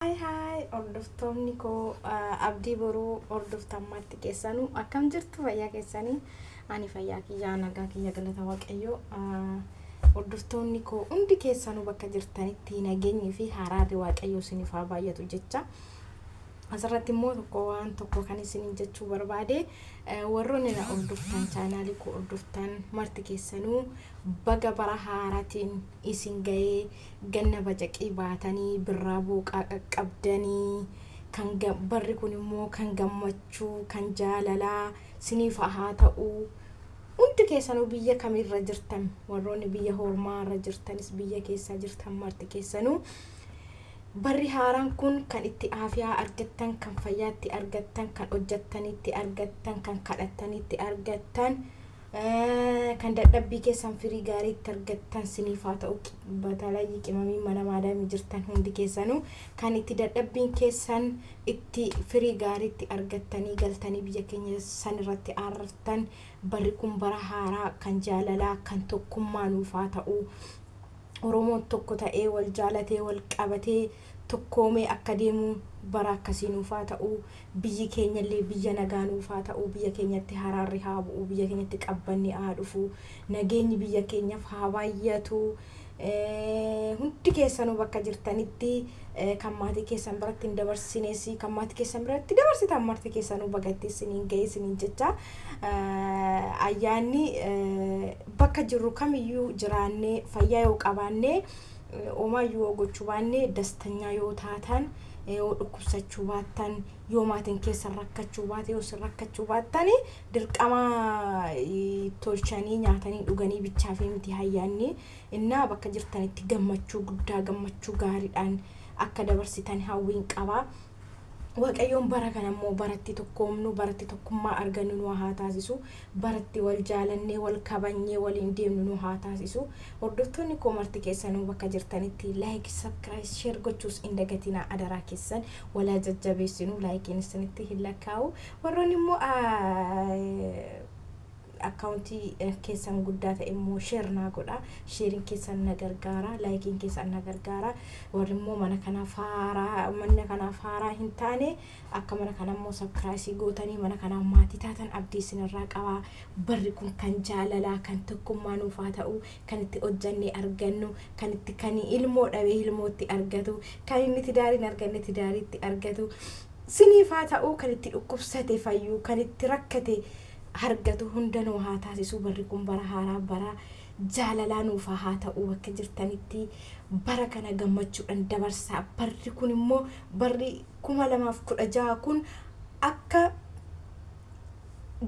Hi hi hordoftoonni koo abdii boruu hordoftan marti keessanuu akkam jirtu fayyaa keessanii ani fayyaa kiyyaa nagaa kiyya galata waaqayyoo hordoftoonni koo hundi keessanuu bakka jirtanitti nageenyi fi haraarri waaqayyoo isiniif haa baay'atu jecha asirratti immoo tokko waan tokko kan isiniin jechuu barbaade warroonni na hordoftan chaanaalii koo hordoftan marti keessanuu baga bara haaraatiin isin gahee ganna bacaqii baatanii birraa booqaa qaqqabdanii kan barri kun immoo kan gammachuu kan jaalalaa siniif haa ta'u hundi keessanuu biyya kamirra jirtan warroonni biyya hormaa irra jirtanis biyya keessaa jirtan marti keessanuu barri haaraan kun kan itti aafiyaa argattan kan fayyaatti argattan kan hojjattanitti argattan kan kadhattanitti argattan Kan dadhabbii keessan firii gaarii itti argattan siniif haa ta'u batalayyii qimamii mana maadaamii jirtan hundi keessanuu kan itti dadhabbiin keessan itti firii gaarii itti argattanii galtanii biyya keenya san irratti aarrartan barri kun bara haaraa kan jaalalaa kan tokkummaa nuuf haa ta'u Oromoon tokko ta'ee wal jaalatee wal qabatee tokkoomee akka deemu bara akkasii nuuf haa ta'u Biyyi keenyallee biyya nagaa nuuf haa ta'u, biyya keenyatti haraarri haa bu'u, biyya keenyatti qabbanni haa dhufu, nageenyi biyya keenyaf haa baay'atu, hundi keessanuu bakka jirtanitti kan maatii keessan biratti hin dabarsines kan maatii keessan biratti dabarsitan marti keessanuu baga itti isiniin ga'e isiniin jecha ayyaanni bakka jirru kamiyyuu jiraannee fayyaa yoo qabaannee homaa yoo gochuu baannee dastanyaa yoo taatan Yoo dhukkubsachuu baattan, yoo maatiin keessan rakkachuu baate, yoo isin rakkachuu baattan, dirqama tolchanii nyaatanii dhuganii bichaafii miti hayyaanni. Innaa bakka jirtanitti gammachuu guddaa, gammachuu gaariidhaan akka dabarsitan hawwiin qaba. Waaqayyoon bara kana immoo baratti tokkoomnu, baratti tokkummaa argannu nu haa taasisu. bara itti wal jaalannee wal kabanyee waliin deemnu nu haa taasisu hordoftoonni koo marti keessanuu bakka jirtanitti like subcribe share gochuus hin dagatinaa adaraa keessan wal haa jajjabeessinu like'n isinitti hin lakkaa'u warroonni immoo akkaawuntii keessan guddaa ta'e immoo share naa godha sheeriin keessan na gargaara like'n keessan na gargaara warri immoo mana kanaaf haaraa mana kanaaf haaraa hin taane Akka mana kana immoo subcrisii gootanii mana kanaaf maatii taatan abdii isin irraa qaba. Barri kun kan jaalalaa, kan tokkummaa nuuf haa ta'u, kan itti hojjannee argannu, kan itti kan ilmoo dhabe ilmoo itti argatu, kan inni tidaari hin arganne tidaari itti argatu siniif haa ta'u, kan itti dhukkubsate fayyu, kan itti rakkate hargatu hunda nuu haa taasisu. Barri kun bara haaraa bara jaalalaa nuuf haa ta'u bakka jirtanitti bara kana gammachuudhan dabarsaa. Barri kun immoo barri 2016 kun akka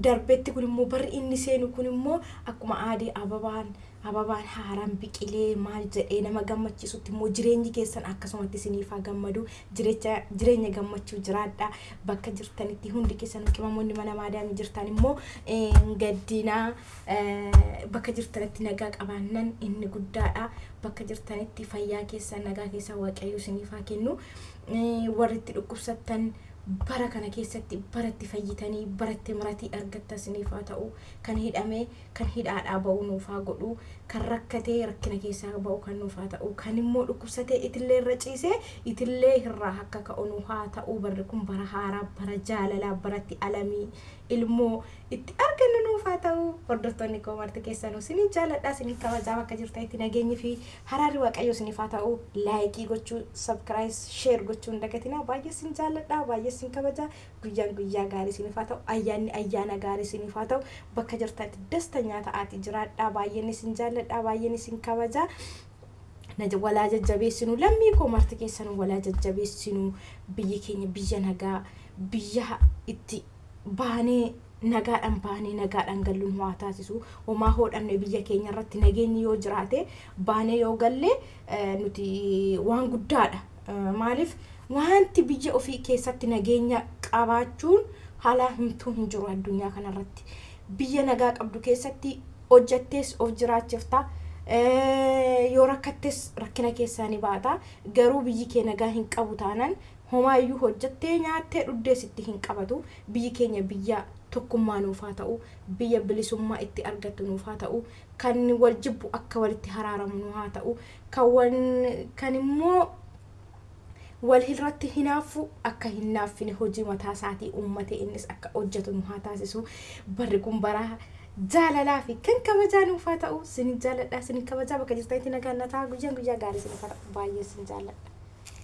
darbetti kun immoo barri inni seenu kun immoo akkuma aadee ababaan ababaan haaraan biqilee maal jedhee nama gammachiisutti immoo jireenyi keessan akkasumatti isiniif haa gammadu jirecha jireenya gammachuu jiraadha bakka jirtanitti hundi keessan qimamoonni mana maadaamii jirtan immoo hin gaddinaa eh, bakka jirtanitti nagaa qabaannan inni guddaadha bakka jirtanitti fayyaa keessan nagaa keessan waaqayyo isiniif haa kennu warri itti dhukkubsattan bara kana keessatti bara itti fayyitanii bara itti miratii argattan isiniif haa ta'u kan hidhame kan hidhaadhaa ba'u nuuf haa godhu kan rakkatee rakkina keessaa ba'u kan nuuf haa ta'u kan immoo dhukkubsatee itillee irra ciisee itillee irraa akka ka'u nu haa ta'u barri kun bara haaraa bara jaalalaa baratti alamii ilmoo itti argannu nuuf haa ta'u hordoftoonni koo marti keessanuu sinin jaaladha sinin kabajaa bakka jirtanitti nageenyi fi haraarri waaqayyo sinif haa ta'u laayikii gochuu sabkiraayis sheer gochuu hin dagatinaa baay'ee sin jaaladha baay'ee sin kabajaa guyyaan guyyaa gaarii sinif haa ta'u ayyaanni ayyaana gaarii sinif haa ta'u bakka jirtanitti dastanyaa ta'aati jiraadha baay'een isin jaaladha baay'een isin kabajaa walaa jajjabeessinu lammii koo marti keessanuu walaa jajjabeessinu biyyi keenya biyya nagaa biyya itti baanee nagaadhaan baanee nagaadhaan galluun waa taasisu homaa hoodhamne biyya keenya irratti nageenyi yoo jiraate baanee yoo galle nuti waan guddaadha maaliif wanti biyya ofii keessatti nageenya qabaachuun haalaa himtuu hin jiru addunyaa kanarratti biyya nagaa qabdu keessatti hojjattees of jiraachifta yoo rakkattes rakkina keessaa ni baata garuu biyyi kee nagaa hin qabu taanan homaayyuu hojjattee nyaattee dhuddee sitti hin qabatu biyyi keenya biyya tokkummaa nuuf haa ta'u biyya bilisummaa itti argattu nuuf haa ta'u kan wal jibbu akka walitti haraaramu nu haa ta'u kan wal kan immoo walhirratti hinaaffuu akka hin naaffine hojii mataa isaatii uummatee innis akka hojjetu nu haa taasisu barri kun bara jaalalaa fi kan kabajaa nuuf haa ta'u sin jaalladha sin kabajaa bakka jirtanitti nagaan na ta'a guyyaan guyyaa gaarii sin fara baay'ee sin jaalladha.